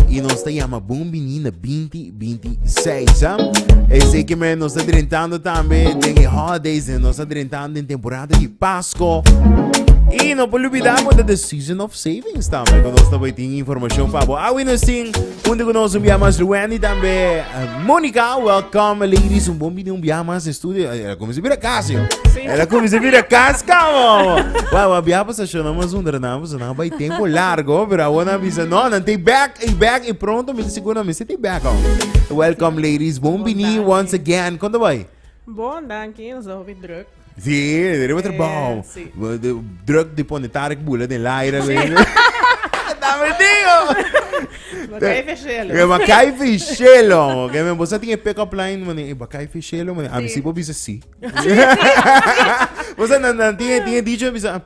Y nos ta llama bon bini na 2026. Huh? Así que me nos ta drentando también den e holidays, nos ta drentando den temporada di Pasco. Y no por olvidar por the season of savings también. Que nos ta waiting información para vos. Awi nos tin, unde que nos un via más Wendy también. Uh, Monica, welcome ladies. Un bon bini un via más de estudio. Ela como se vira casa, yo. Ela como se vira casa, come on. Wow, wow, via pasation, namos un drenamos. Nan a bai tempo largo, pero awor nan a bisa, no, nan ta back, i back, i pronto mi ta sigur nan mester ta back al. Welcome ladies, bon bini once again. Kon ta bai? Bon, danki, nos a hopi druk. Si, riba eh, trabao. Si. Druk di pone Tarek Bula den laira. Si. Ta metido! Bakay Fishelo. E bakay Fishelo. Ok, men, bosa tin e pick-up line, mani, e bakay Fishelo, mani, a mi si bo bisa si. Bosa nan, nan, tin, tin, dicho, bisa,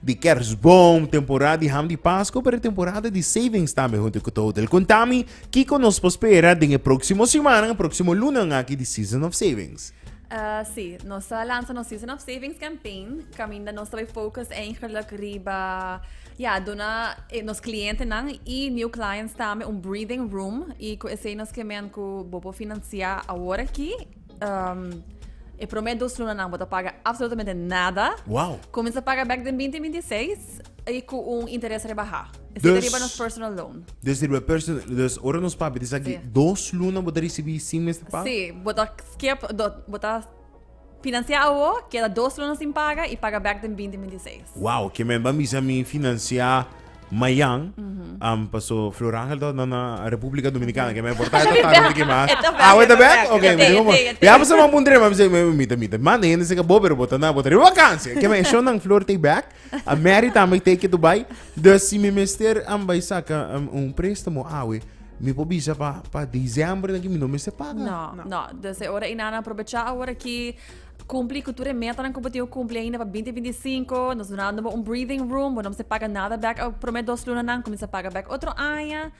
di Kersboom, temporada di ham di Pasco, pero temporada di savings tambe hunto cu Total. Contami, kico nos por spera den e proximo simannan, proximo lunnan aki di Season of Savings? Uh, sí, nos a lanza nos Season of Savings campaign, caminda nos ta focus eigenlijk riba, ja, duna eh, nos clientenan y new clients tambe un breathing room y cu esei nos kemen cu bobo financia awor aki e promé dos lunanan bo ta paga absolutamente nada. Wow. Kuminsá paga bèk den binti binti seis i ku un interes rebahá. E seta riba nos personal loan. Dus riba personal, dus ora nos papia di sa aki dos luna bo ta risibí sin mester paga? Si, bo ta skip, bo ta finansiá awo, keda dos luna sin paga i paga bèk den binti binti seis. Wow, ke men ban bisa mi finansiá Mayan, um, paso Flor Angel dat na na República Dominicana, que me importa esta tarde de que más. Ah, wait a back. Okay, me digo, ya pues vamos un drama, me me mita mita. Man, de gente se que bober bota na bota vakansie. Que me show nang Flor take back. A Mary tambe take to buy. Dus si me mester am by saka um, un préstamo awe. Mi po bisa pa pa diciembre na que mi no mester paga. No, no. Dus e ora inana aprovechá ahora que Kumpli ku tur e metanan ku bo tin ku kumpli ainda pa binti binti i sinku. Nos dunando bo un breathing room. Bo no mester paga nada bek e promé dos lunanan. Kuminsá paga bek otro aña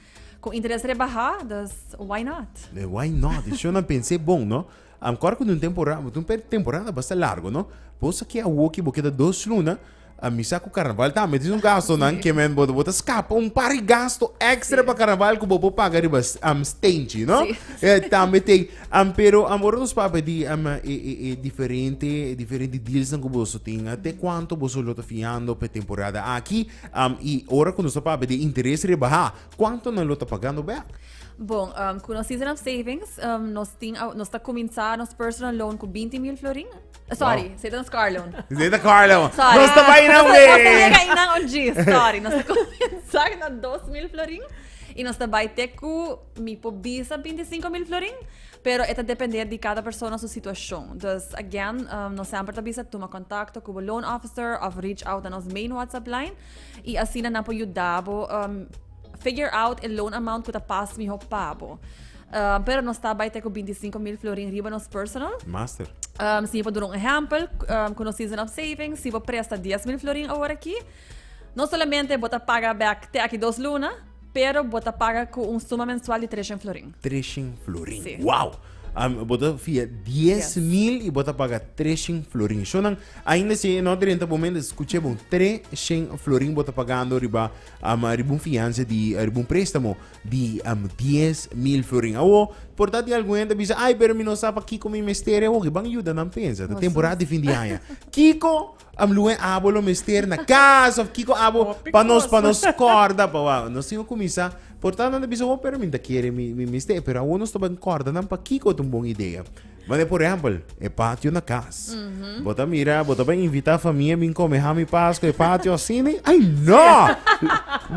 ku interes rebahá. Dus, why not? E why not? E shownan pens'é bon, no? Ankor ku tin un temporada, tin un temporada basta largu, no? Bo sa ke awoki bo keda dos luna. A mi sa ku karnaval tambe tin su gastonan ke men bo ta skapa un par di gasto ekstra pa karnaval ku bo por paga riba stentji no tambe tin pero ora nos papia di e diferente e diferente dealsnan ku boso tin te kuantu boso lo ta fiando pa e temporada aki i ora ku nos ta papia di interes rebaha kuantu nan lo ta pagando bek? Bon ku nos season of savings nos tin nos ta kuminsá nos personal loan ku binti mil florin Sorry, wow. Satan Scarlon. Satan Scarlon. Sorry. Nos te vai na we. Sorry, nos te comenzar na 2000 florin. Y nos te vai te cu mi po bisa 25 mil florin. Pero eta depender di cada persona su situacion. Dus again, um, nos sempre ta bisa tuma contacto cu loan officer of reach out na nos main WhatsApp line. Y así na po yudabo um, Figure out e loan amount ku ta pas mihó pa bo. Um, pero nos ta bai te ku 25 mil florin riba nos personal. Master. Um, si pa dura un ehempel, um, ku nos season of saving, si pa presta 10 mil florin awor aki, no solamente bota paga back te aki dos luna, pero bota paga ku un suma mensual di 300 florin. 300 florin. Sí. Wow! Um, bota via 10 mil i bota paga 300 florin. Shonan, ainda si e no drenta bo men, escuche bon, 300 florin bota pagando riba Am a riba un fiansa di a riba un préstamo di am dies mil florin. Awo, por ta di algun hende a bisa, Ai, pero mi no sa pa kiko mi mester e hopi. Ban yuda nan pensa. Ta temporada di fin di aña. Kiko am luha e abo lo mester na kas òf kiko abo pa nos pa nos kòrda pa wak? Nos tin ku kuminsá. Por ta nan ta bisa, Ho, pero mi no ta kere mi mester e. Pero awo nos ta bin kòrda nan pa kiko ta un bon idea. Manera por ehempel, e patio na cas. Bo ta mira, bo ta bay invita famia bin come ham y pas cu e patio asini? Ay, no!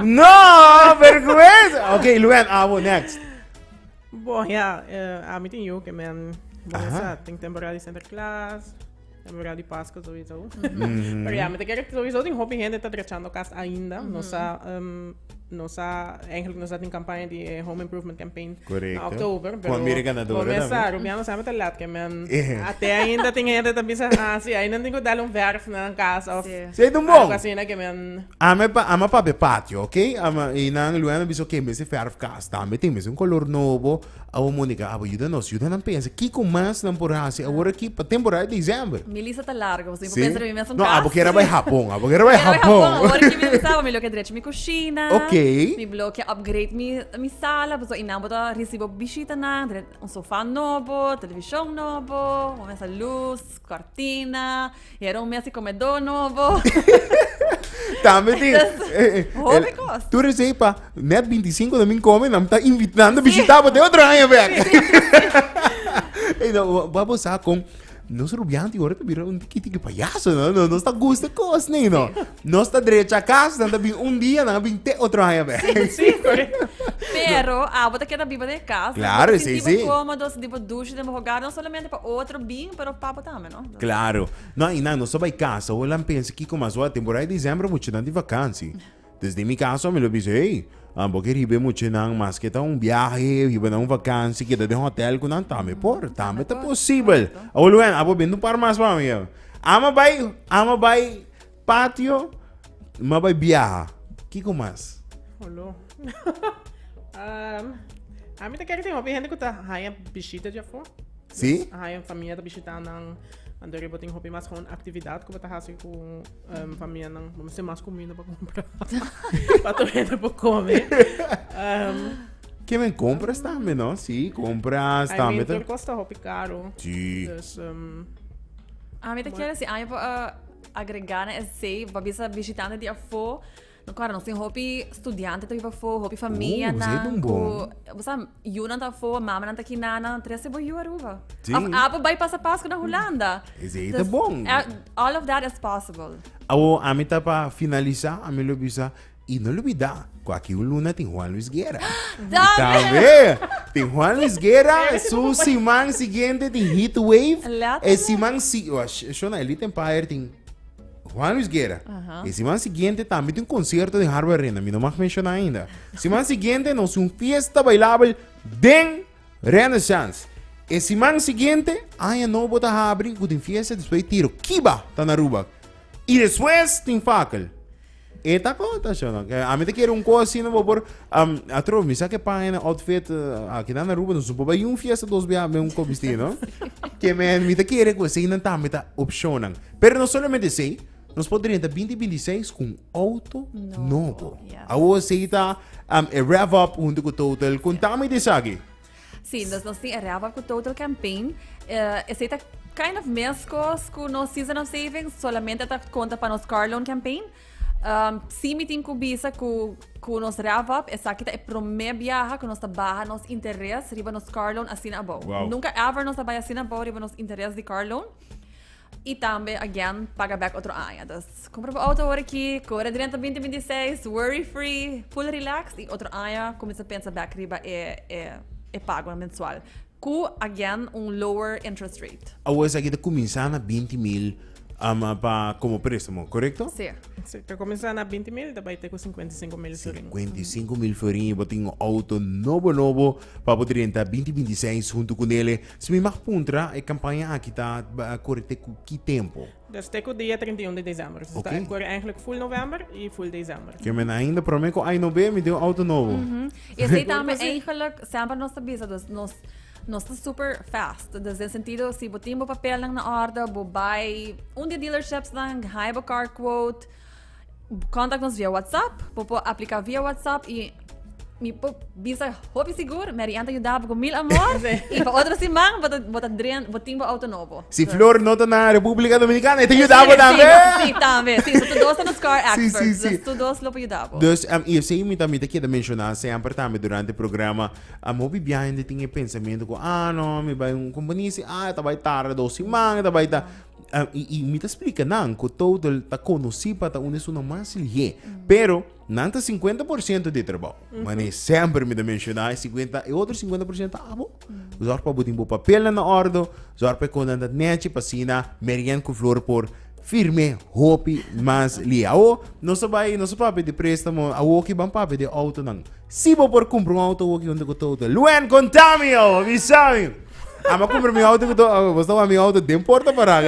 No! Vergüenza! Ok, Luen, abo, next. Bo, ya, eh, ami tin yuke, men. Bo Aha. mester, tin temporada di Sinterklaas. Temporada di Paskwa sowiso. Pero ya, mi ta kere sowiso tin hopi hende ta drechando kas ainda. Nos a, um, nos a, eigenlijk nos a tin campaña di eh, Home Improvement Campaign na Correcto. oktober. Con Pero mire ganadora con mesa, también. Rubiano sempre ta laat ke men. Eh. Ate ainda tin hende ta bisa, ah, si, ainda tin ku dal un verf na nan kas of Sí. Sí, don Bon. algo asina ke men. Ame pa, ama pa be patio, oké? Ama, i nan luego me bisa, oké, mester verf kas tambe, tin mester un color nobo. Awo Monica, abo yuda nos, yuda nan pensa kiko mas nan por hasi awor aki pa temporada di diciember. Mi lista ta largo, pasobra mi por pensa mi mes un kas. No, abo kier a bai Hapon, abo kier a bai Hapon. Awor aki mi bisa, mi loke drechi mi kushina. Ok. Mi loke upgrade mi sala, pasobra inan bo ta risibo bishitanan, un sofa nobo, televishon nobo, bo mester lus, kòrtina. Y era un mes di comedó nobo. Tambe tin. Hopi cos. Tu recebi pa net 25 de min come, nam ta invitando sí. visitaba de otro año back. Hey, no, vamos sa con nos rubianti ahora te mira un tiki tiki payaso, no, no, nos ta gusta cos, nee, no. Nos ta derecha casa, dan ta bin un día, dan bin te otro año back. Sí, sí, correcto. Pero, ah, vos te queda viva de casa. Claro, sí, sí. Como dos, tipo douche de hogar, no solamente para otro bien, pero para también. Claro. No hay nan, nos ta bay casa, hoy lan pensa kico mas wak. Temporada di diciembre muchanan di vakansi. Dus den mi caso mi lo bisa, hey, a bo ke riba e muchanan maske ta un biahe, hiba na un vakansi, keda den hotel cu nan, tambe por, tambe ta posibel. Awor lo wen, abo bende un par mas pa mi. Ama bay, ama bay. Patio, m'a bai biaha. Kiko mas? Holo. Am, a mi ta kere tin hopi hende ku ta haña bishita di afó. Si? A haña famia ta bishitá nan. Anto riba tin hopi mas hon aktividat ku bo ta hasi ku em, famianan. Bo mester mas kuminda pa kumpra. Pa tur hende por kome. Em, Ke men compras tambe, no? Si, compras I mean, tambe. tur ta- kos ta hopi karo. Si. Dus, em, A mi ta kere si aña pa, ah, Agregá na esei, pa bisa bishitante di afó, no kòrda, nos tin hopi studiante ta biba afó, hopi famianan ku, bo sa, yunan ta afó, mamanan ta kinana, nan trese bo yu Aruba. Òf abo bai pasa Paskua na Hulanda. Esei ta bon. All of that is possible. Awor, ami ta pa finalisá, ami lo bisa. Y no lubida cu aki un luna tin Juan Luis Guerra. Dame. Y tambe tin Juan Luis Guerra su siman siguiente tin Heat Wave. Laat E siman si Shona Elite Empire tin Juan Luis Guerra. Uh -huh. E siman siguiente tambe tin concierto den Harbor Arena. Mi no mag menciona ainda. Siman siguiente nos un fiesta bailable den Renaissance. E siman siguiente aña nobo ta habri cu tin fiesta despues tiro. Kiba ta na Aruba. Y despues tin Fakel. E ta kota shon. A mi ta kere un kos asina bo por um, atro mi sa ke paña na outfit uh, aki na Aruba no supo bai un fiesta dos bia me un ko bisti no. Ke men mi ta kere ko sei nan tambe ta opshonan. Pero no solamente sei, nos po drenta 2026 ku un auto Nobo, nobo. yes. Awo sei ta um, e rev up huntu ku Total. Konta mi di esaki. Sí, nos, nos tin erraba cu Total Campaign. Uh, ese ta kind of mescos cu nos Season of Savings, solamente ta conta para nos car loan campaign. Um, sí, me tin cu bisa cu, cu nos wrap up, esa que ta e primer viaje que nos ta baja nos interés riba nos car loan así na abou. Wow. Nunca ever nos ta baja así na abou riba nos interés de car loan. y tambe again paga back otro aña. Dus compra bo auto ahora aquí, corre drenta 2026, worry free, full relaxed y otro aña comienza pensa back riba e, e, e pago mensual. Cu again un lower interest rate. Awo esaki ta cuminsa na binti mil um, pa como préstamo, correcto? Sí. Sí, ta comenzá na 20 mil, ta bai te cu 55 mil florin. 55 mil florin y bo tin un auto nobo nobo pa bo drenta 2026 junto con ele. Si mi mag puntra, e campaña aki ta core te cu ki tempo? Ta stay cu dia trinta i un di december. So ta core eigenlijk full november y full december. Ke men ainda prome cu ay no be mi den un auto nobo. Y esey ta mi eigenlijk semper nos ta bisa dus nos nos ta super fast. Dus den sentido si bo tin bo papelnan na orde bo bay un di e dealerships nan haai bo car quote. Contact nos via WhatsApp. Bo por aplica via WhatsApp y mi por bisa hopi sigur, Mary Ann ta yuda bo cu mil amor y pa otro siman bo ta, bo ta dren, bo tin bo auto nobo. Si So- flor no ta na Republica Dominicana e ta yuda bo tambe. Sí, tambe. Sí, so tu dos ta nos car Sí, experts. sí, sí. Dus tu dos lo por yuda bo. Dus em, y esei mi también te keda menciona semper también durante e programa em hopi bia hende tin e pensamiento cu ah no mi bai un compañía y si ah ta bai tarda dos siman ta bai ta Ah, y, y mi ta explica nan cu total ta conocí pa ta un estunan mas lié. Pero, nan ta 50% de trabajo. Mane, sempre mi ta menciona, e 50, e otro 50% ta abo. Zorg pa bo tin bo papelnan na orde, zorg pa e contan dat nechi, pa asina Marian cu Flor por firme hopi mas lié. Awo, nos a bai, nos a papia di prestamo, awo ki ban papia di autonan. Si bo por kumpra un outo wok yon tukutu outo luen kontami awor bisami amo kumpra mi outo kuto bo sta wak mi outo den porta para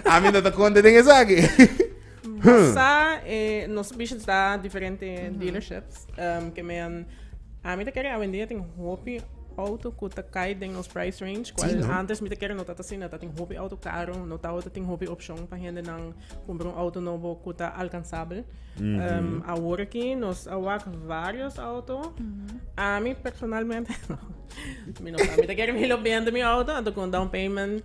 ami no ta konta den esaki Sa eh nos bishi ta diferente dealerships em ke men ami ta kere awendia tin hopi outo ku ta kai den nos price range kual antes mi ta kere no tat asina tatin hopi outo karo no tawata tin hopi opshon pa hendenan. Cumpra un auto nobo cu ta alcanzabel. Mm -hmm. um, ahora aquí nos awak varios auto. Mm -hmm. A mí personalmente, no. Mi no sabe, te quiero mi lo vende mi auto, entonces con down payment.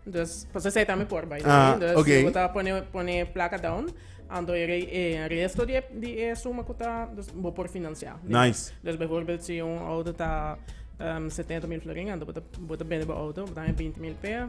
Dus, pas zij aan me por bij. Ah, dus okay. we pone pone placa down. Ando er eh, resto die die eh, suma kuta dus bo por financiar. Nice. Dus bijvoorbeeld si un auto ta um, 70 mil florin, ando bota bota bende bo auto, dan 20 mil per.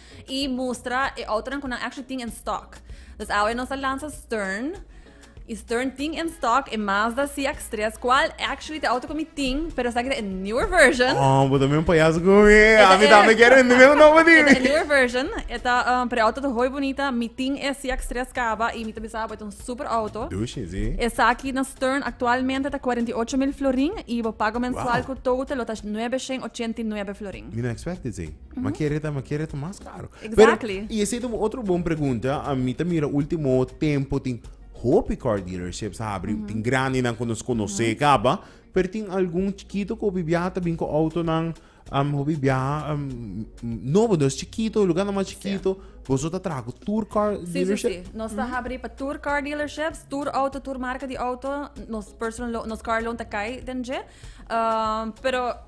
y mustra e autonan cu nan actually tin en stock. Dus awe nos a lansa Stern. Y Stern tin en stock e Mazda CX-3, cual actually te auto cu mi tin, pero esaki ta e newer version. Oh, bo también payaso con mi. A mi también quiero vender mi auto para ti. E newer version, e ta, um, pero auto ta hoy bonita. Mi tin e CX-3 caba y mi ta bisa, bo ta un super auto. Dushi, sí. Esaki na Stern actualmente ta 48 mil florin y bo pago mensual wow. cu total lo ta 989 florin. Mi no expect it, sí. Ma kere ta, ma kere ta mas karo. Exactly. Pero, y ese ta otro bon pregunta. A mí ta mira último tempo tin hopi car dealerships abri. Mm -hmm. Tin grande nan con nos conoce mm -hmm. caba. Pero tin algún chiquito que hopi viaja ta bin con auto nan. Um, hopi viaja, um, no, pero es chiquito, lugar no más chiquito. Sí. Boso ta trago tour car sí, dealership? Sí, sí, Nos ta mm -hmm. abri pa tour car dealerships, tour auto, tour marca di auto. Nos personal, nos car loan ta kai den je. Um, pero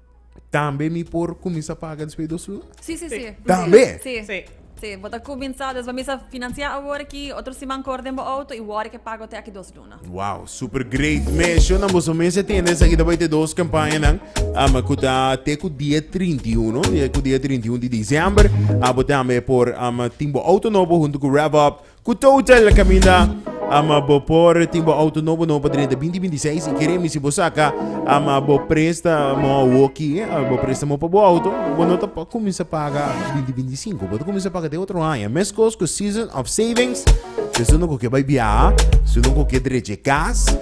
tambe mi por cuminsa paga despues dos tur? Sí, sí, sí. Tambe? Sí. Sí. Sí, bo ta cuminsa, despues mi sa financia awor aki, otro siman cu orden bo auto y worde ke pago te aki dos luna. Wow, super great measurnan boso mester tende esaki ta bai te dos campañanan um, cu ta te cu dia 31 te cu dia 31 di diciember a bo tambe por um, tin bo auto nobo hunto cu RevUp Ku ta hotel kaminda ama bo por tin bo auto nobo no pa drenta binti binti seis i keremi si bo saka ama bo prestamo woki bo prestamo pa bo auto bo no ta pa kuminsa paga binti binti sinku bo ta kuminsa paga te otro aña meskos ku season of savings te su no ku ke bai biaha su no ku ke drechi e kas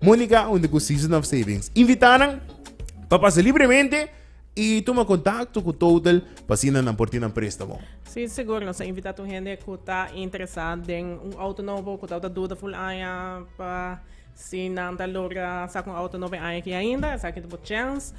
Monica unda cu Season of Savings invita nan pa pasa libremente y tuma contacto cu Total pa asina nan por tin nan prestamo. Sí, sigur, nos a invitá tur hende cu ta interesá den un auto nobo, cu tabata duda full aña pa si nan ta logra saca un auto nobo e aña aki ainda, esaki ta bo chance.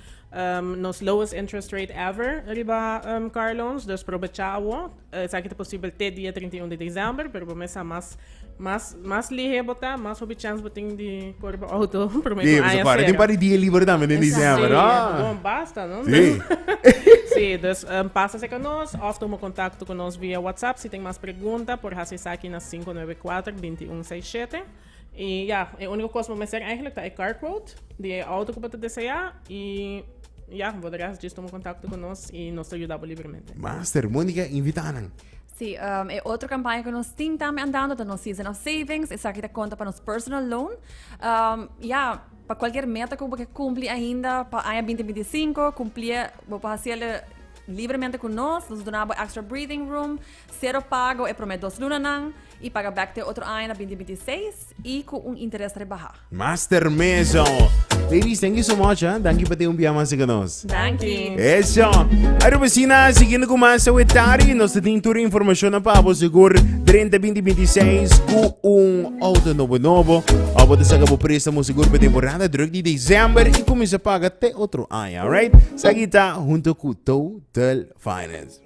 Nos lowest interest rate ever riba car loans, dus probechá awor. Esaki ta posibel te dia trinta i un di desèmber, pero bo mes sa mas mas mas lihé bo ta, mas hopi chèns bo tin di kore bo outo promé ku aña sera. Tin un par di dia liber tambe den desèmber, a. Si, bon basta, no? Si. Si, dus pasa serka nos òf tuma kontakto ku nos via WhatsApp. Si tin mas pregunta por hasi esaki na sinku nuebe kuater binti un sei shete. Y ya, e unico cos bo mester eigenlijk ta e car quote di e auto cu bo ta desea y ya, bo de rest djis tuma contacto cu nos y nos ta yuda bo libremente. Master, Monica invita nan. Sí, e otro campaña cu nos tin tambe andando ta nos Season of Savings, esaki ta conta pa nos personal loan. Ya, pa cualkier meta cu bo ke cumpli ainda pa aña binti binti i sinku, cumplié, bo por haciélo libremente cu nos, nos duna bo extra breathing room. Sero pago e promé dos lunanan i paga bèk te otro aña na binti binti seis i ku un interes rebahá. Master Meso. Ladies, thank you so much, ah. Danki pa tin un bia mas aki nos. Danki. Eso. Aru besina, siguiendo cu mas awe tarde, nos te tin tur e informacion na pa bo segur drenta binti binti seis cu un auto nobo nobo. Ora bo ta saca bo prestamo segur pa temporada druk di december y cuminsa paga te otro aña, alright? Esaki ta hunto cu Total Finance.